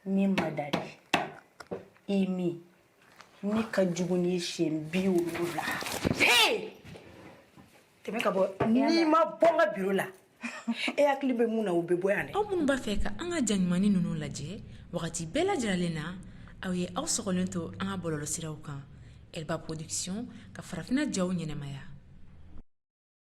min ma da de i min ne ka jugu ni siɲɛ bi wolonwula tɛmɛ ka bɔ n'i ma bɔ n ka biro la e hakili bɛ mun na o bɛ bɔ yan dɛ aw minnu b'a fɛ ka an ka jaɲumanni ninnu lajɛ wagati bɛɛ lajɛlen na aw ye aw sɔgɔlen to an ka bɔlɔlɔsiraw kan elba production ka farafinna jaw ɲɛnamaya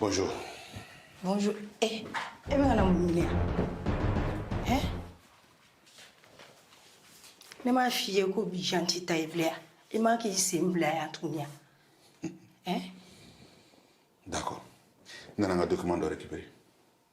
Bonjour. Bonjour. Eh, e bɛ ka na mun ɲini yan? Eh? Ne m'a f'i ye ko bi yan t'i ta ye bilen wa? I man k'i sen bila yan tuguni wa? Eh? D'accord. N nana n ka document dɔ récupérer.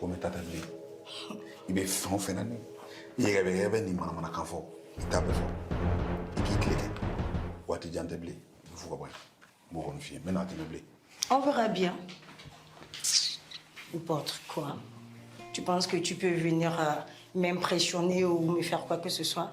komi tata bɛ yen i bɛ fɛn o fɛn na ni i yɛrɛ bɛ yɛrɛ bɛ nin manamanakan fɔ i t'a bɛɛ fɔ i k'i tile kɛ waati jan tɛ bilen i bɛ fo ka bɔ yan n b'o kɔni f'i ye n bɛ n'a tɛmɛ bilen. On verra bien. N'importe quoi. Tu penses que tu peux venir euh, m'impressionner ou me faire quoi que ce soit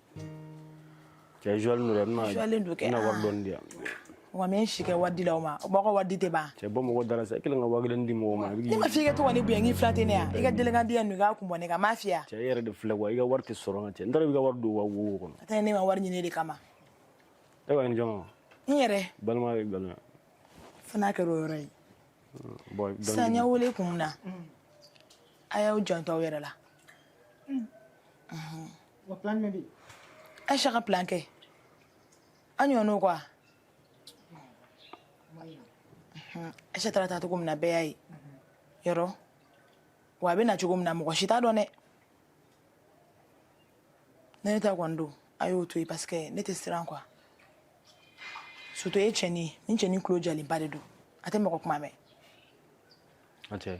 cɛ zuwalen don dɛ n bɛna Zuwalen don kɛ, n bɛna wari aa. dɔɔni di yan wa n bɛ n si kɛ wari di la o ma o b'a ka wari di tɛ ban cɛ bɔ mɔgɔ da la sa i kelen ka waa kelen di mɔgɔ ma a bɛ ne k'i ma f'i ka to ka ne bonya k'i fila tɛ ne yan i ka delikan di yan nɔ i k'a kun bɔ ne kan n m'a f'i ye wa? cɛ e yɛrɛ de filɛ wa i ka wari tɛ sɔrɔ nka cɛ n taara i ka wari don wa wo kɔnɔ a tɛ ne ma wari ɲini e de kama e ka nin jɔn ma n yɛrɛ balima bɛ nkalon na fo n'a kɛra o yɔrɔ ye bon dɔɔni sisan ne y'aw wele kun min na a y'aw janto aw yɛrɛ la wa plan jumɛn bɛ yen ayisa ka plan kɛ an ɲɔgɔn n'o quoi ayisa taara taa cogo min na bɛɛ y'a ye yɔrɔ wa a bɛ na cogo min na mɔgɔ si t'a dɔn dɛ ne ne t'a kɔni dɔn a y'o to yen parce que ne tɛ siran quoi surtout e cɛnin ye nin cɛnin tulo jalenba de don a tɛ mɔgɔ kuma mɛn. Ayisa.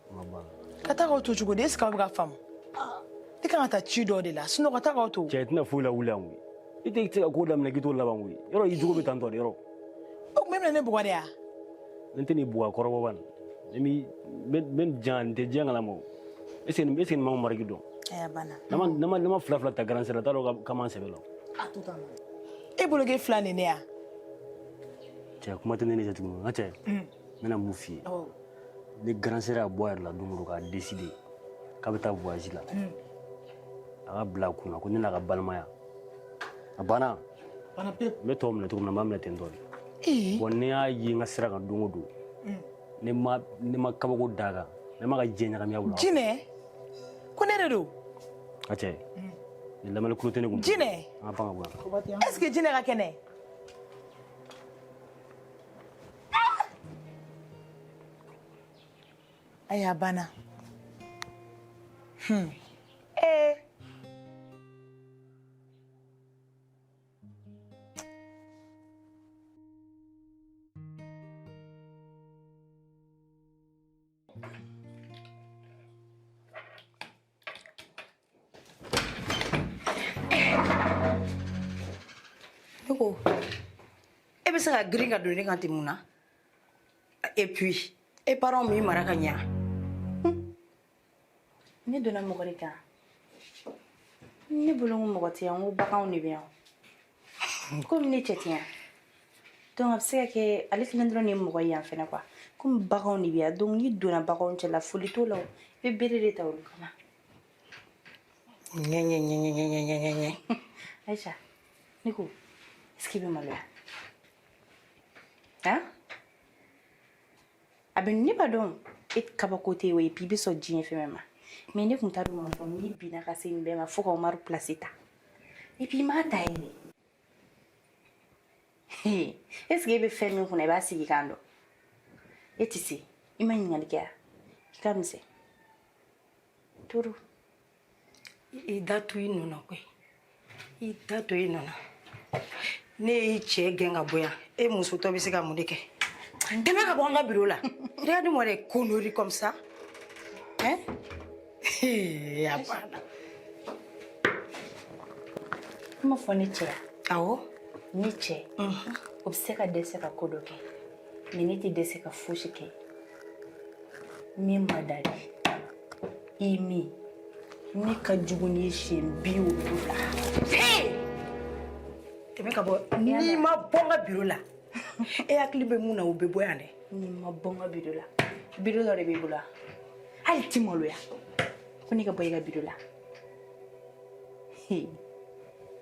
ka taa k'aw to cogo di est ce que aw bɛ ka faamu i kan ka taa ci dɔ de la sinɔn ka taa k'aw to cɛ i tɛna foyi lawuli an koyi i tɛ se ka ko daminɛ k'i t'o laban koyi yɔrɔ i jogo bɛ tan tɔ de yɔrɔ o tuma e bɛna ne bugɔ de ya ne tɛn'i bugɔ kɔrɔbɔ ban ne b'i n bɛ jan n tɛ diɲɛ kalama o est ce que est ce que nin m'an ka mariki dɔn aya banna ne ma ne ma ne ma fila fila ta grande sœur t'a dɔn ka- ka man sɛbɛ la e bologe fila nin ne ya cɛ kuma tɛ ne n'i cɛ tuguni n ka cɛ n bɛna mun f'i ye ne grande sœur ka bɔ a yɛrɛ la don dɔ k'a deside k'a bɛ taa voyage la hmm. a k'a bila a kun na ko ne n'a ka balimaya a banna n bɛ tɔw minɛ cogo min na n b'a minɛ ten tɔ de bon ne y'a ye n ka sira kan don o don ne ma ne ma kabako d'a kan ne ma ka diɲɛ ɲagamiya wula jinɛ ko ne de don a cɛ ni lamɛnni kulo tɛ ne kun jinɛ an ka pan ka bɔ yan est ce que jinɛ ka kɛnɛ Ayiwa a banna ee Ne ko e bɛ se ka girin ka don ne kan ten mun na et puis e parents m'i mara ka ɲa ne donna mɔgɔ de kan ne bolo n ko mɔgɔ tɛ yan n ko baganw de bɛ yan komi ne cɛ tɛ yan donc a bɛ se ka kɛ ale kelen dɔrɔn de ye mɔgɔ ye yan fana quoi komi baganw de bɛ yan donc n'i donna baganw cɛla foli t'o la o i bɛ bere de ta olu kama ɲɛɲɛɲɛɲɛɲɛɲɛɲɛ ayisa ne ko est ce que i bɛ maloya han a bɛ ne b'a dɔn e kabako tɛ o et puis i bɛ sɔn diɲɛ fɛn bɛɛ ma mɛ ne tun t'a dɔn k'a fɔ n'i bɛ na ka se nin bɛɛ ma fo ka umaru pilasi ta et puis i m'a ta yɛrɛ est ce que e bɛ fɛn min kunna i b'a sigikan dɔn e tɛ se i ma ɲininkali kɛ ya i ka misɛn trop i da to i nɔ na koyi i da to i nɔ na ne y'i cɛ gɛn ka bɔ yan e musotɔ bɛ se ka mun de kɛ tɛmɛ ka bɔ an ka biro la regarde moi les conneries comme ça hein a banna i m'a fɔ ne cɛ awɔ ne cɛ o bɛ se ka dɛsɛ ka ko dɔ kɛ mɛ ne tɛ dɛsɛ ka fosi kɛ min ma da de I min ne ka jugu ni siyɛn bi wolonwula tɛmɛ ka bɔ n'i ma bɔ n ka biro la e hakili bɛ mun na o bɛ bɔ yan dɛ n'i ma bɔ n ka biro la biro dɔ de b'i bolo wa hali t'i maloya ko ne ka bɔ i ka biro la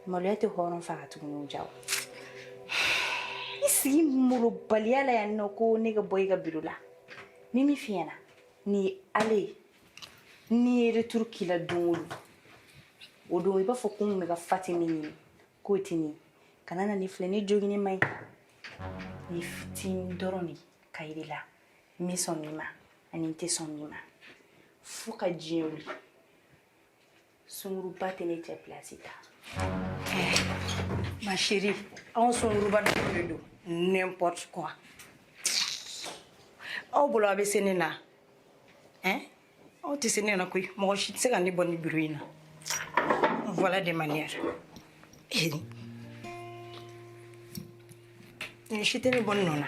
maloya tɛ hɔrɔn faga tuguni jaa i sigi molobaliya la yan nɔ ko ne ka bɔ i ka biro la ne min f'i ɲɛ na Nin ye ale ne ye returu k'i la don o don o don i b'a fɔ ko n bɛ ka fati min ɲini k'o tɛ nin ye kana na ne filɛ ne jogini man ɲi ni fitini dɔrɔn de ka yir'i la n bɛ sɔn min ma ani n tɛ sɔn min ma fo ka diɲɛ wuli sunguruba tɛ ne cɛ place ta ma chérie anw sunguruba dɔw de don n'importe quoi aw bolo a bɛ se ne na hein aw tɛ se ne na koyi mɔgɔ si tɛ se ka ne bɔ ni bureau in na voilà des manières eh. ni si tɛ ne bɔ ne nɔ na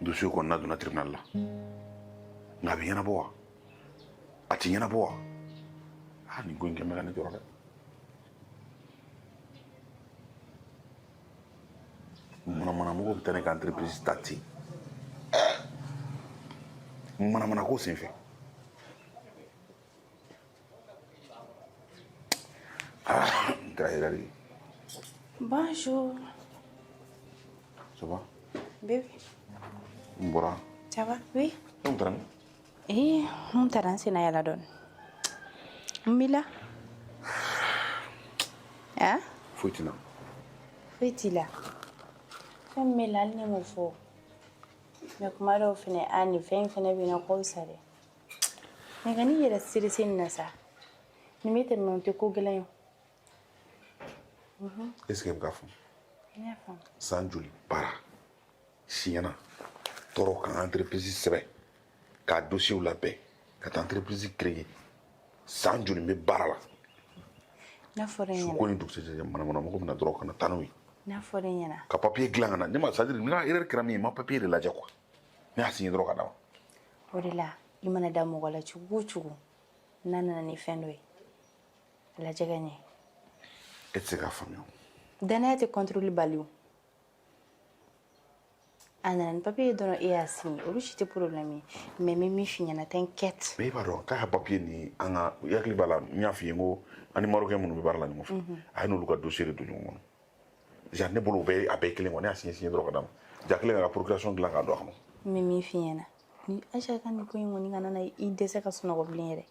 dossier kɔnɔna donna tribunal la nka a bɛ ɲɛnabɔ wa a ti ɲɛnabɔ wa a nin ko in kɛlen bɛ ka ne tɔɔrɔ dɛ manamanamɔgɔ bɛ taa ne ka entreprise ta ten manamanako senfɛ Ah, grazie la vie. Bonjour. Ça va Bébé. N bɔra. Ça va Oui. E taara min? Eh, n taara n senna yaala dɔɔni. Mun b'i la. Ah? Foyi t'i la. Foyi t'i la. Fɛn min b'i la hali n'e m'o fɔ mais kuma dɔw fɛnɛ a nin fɛn in fɛnɛ bɛ na k'o sa dɛ mais kan'i yɛrɛ stresser nin na sa nin bɛ tɛmɛ o tɛ ko gɛlɛn ye est ce que i bɛ k'a faamu n y'a faamu san joli baara siɲɛna tɔɔrɔ ka entreprise sɛbɛn k'a dossier labɛn ka taa entreprise créer san joli bɛ baara la n'a fɔra n suko ɲɛna ni dugusɛjɛ manamana mɔgɔ bɛna dɔrɔn ka na taa n'o ye n'a fɔra n ɲɛna ka papier dilan ka na ne ma c'est à dire n ka erreur kɛra min ye n ma papier de lajɛ quoi ne y'a signé dɔrɔn ka d'a ma o de la i mana da mɔgɔ la cogo o cogo n'a nana ni fɛn dɔ ye a lajɛ ka ɲɛ e tɛ se k'a faamuya o. danaya tɛ contrôle bali o a nana ni papier ye dɔrɔn e y'a signé olu si tɛ problème ye mais n bɛ min f'i ɲɛna t'inquiète mais i b'a dɔn k'a ka papier ni an ka i hakili b'a la n y'a f'i ye n ko an ni marocain minnu bɛ baara la ɲɔgɔn fɛ a ye n'olu ka dossier de don ɲɔgɔn kɔnɔ ja ne bolo a bɛɛ kelen quoi n y'a signé signé dɔrɔn ka d'a ma ja kɛlen k'a ka procuration dilan k'a don a kɔnɔ n bɛ min f'i ɲɛna ni Aïcha ka nin ko in kɔni kana na i dɛsɛ ka sunɔgɔ bilen yɛrɛ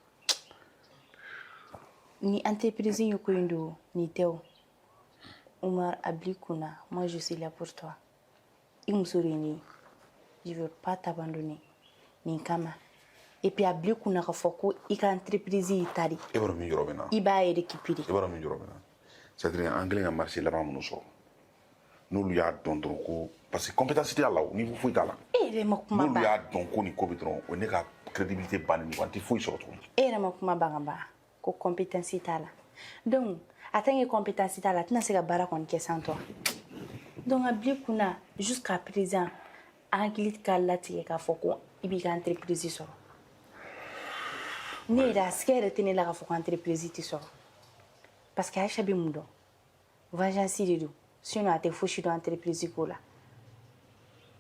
ni entreprise ye ko in don nin tɛ o Umar a bil'i kun na moi je suis là pour toi i muso de ye ne ye je vais pas t'abandonner nin kama et puis a bila i kunna k'a fɔ ko i ka entreprise y'i ta de ye e b'a dɔn min jɔrɔ bɛ n na i b'a récupérer e b'a dɔn min jɔrɔ bɛ n na c'est à dire an kɛlen ka marché laban minnu sɔrɔ n'olu y'a dɔn dɔrɔn ko parce que compétence tɛ a la o niveau foyi t'a la e yɛrɛ ma kuma n'olu ban y'a dɔn ko nin ko bɛ dɔrɔn o ye ne ka crédibilité bannen ye wa n tɛ foyi sɔrɔ tuguni e yɛrɛ ma kuma ban ka ban ko kɔnptansi t'a la dɔnku a tan ye kɔnptansi t'a la a tɛna se ka baara kɔni kɛ san tɔ dɔnku ka bi kun na su ka perez an hakili ka latigɛ k'a fɔ ko i b'i ka an teri perezsi sɔrɔ ne yɛrɛ a sɛgɛ yɛrɛ tɛ ne la ka fɔ ko an teri perezsi tɛ sɔrɔ pa que ayisa bɛ mun dɔn vengeance de don sinon a tɛ fosi dɔn entreprise ko la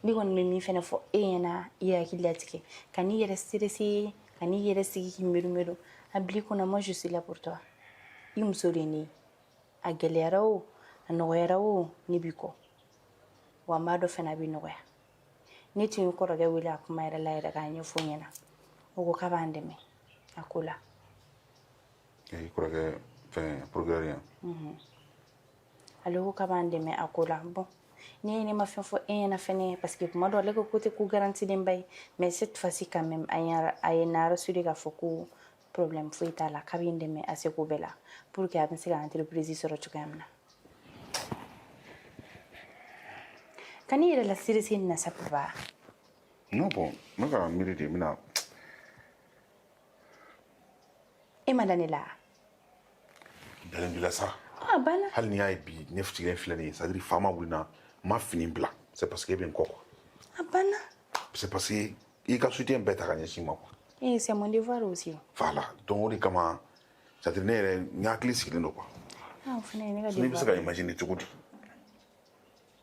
ne kɔni bɛ min fɛnɛ fɔ e ɲɛna i hakili latigɛ kan'i yɛrɛ stressé kan'i yɛrɛ sigi k'i miiri miiri a bil'i kun na moi je suis là pour toi i muso de ye ne ye a gɛlɛyara o a nɔgɔyara o ne b'i kɔ wa n b'a dɔn fɛnɛ a bɛ nɔgɔya ne tun ye kɔrɔkɛ wele a kuma yɛrɛ la yɛrɛ k'a ɲɛfɔ ɲɛna o ko k'a b'an dɛmɛ a ko la i kɔrɔkɛ fɛn procureur yan mhm. ale ko k'a b'an dɛmɛ a ko la bon ne ye ne ma fɛn fɔ e ɲɛna fɛnɛ parce que kuma dɔ ale ko ko tɛ ko garantilenba ye mais cette fois ci quand même a ye n rassuré k'a fɔ ko problème foyi t'a la k'a bɛ n dɛmɛ a seko bɛɛ la pour que a bɛ se ka entreprise sɔrɔ cogoya min na kan'i yɛrɛ la stressé nin na sa papa non bon n bɛ ka miiri de n bɛna e ma da ne la dalen b'i la sa a banna hali n'i y'a ye bi ne sigilen filɛ nin ye c'est à dire fa ma wuli n na n ma fini bila c'est parce que e bɛ n kɔ quoi a banna c'est parce que i ka soutien bɛɛ ta ka ɲɛsin n ma quoi e c'est mon devoir aussi voilà donc o de kama c'est à dire ne yɛrɛ n hakili sigilen don quoi a o fana ye ne ka ne bɛ se ka imaginer cogo di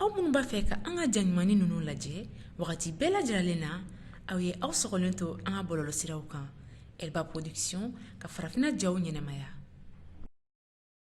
aw minnu b'a fɛ ka an ka jaɲumanin ninnu lajɛ wagati bɛɛ lajɛlen na aw ye aw sɔgɔlen to an ka bɔlɔlɔsiraw kan elba production ka farafinna jaw ɲɛnamaya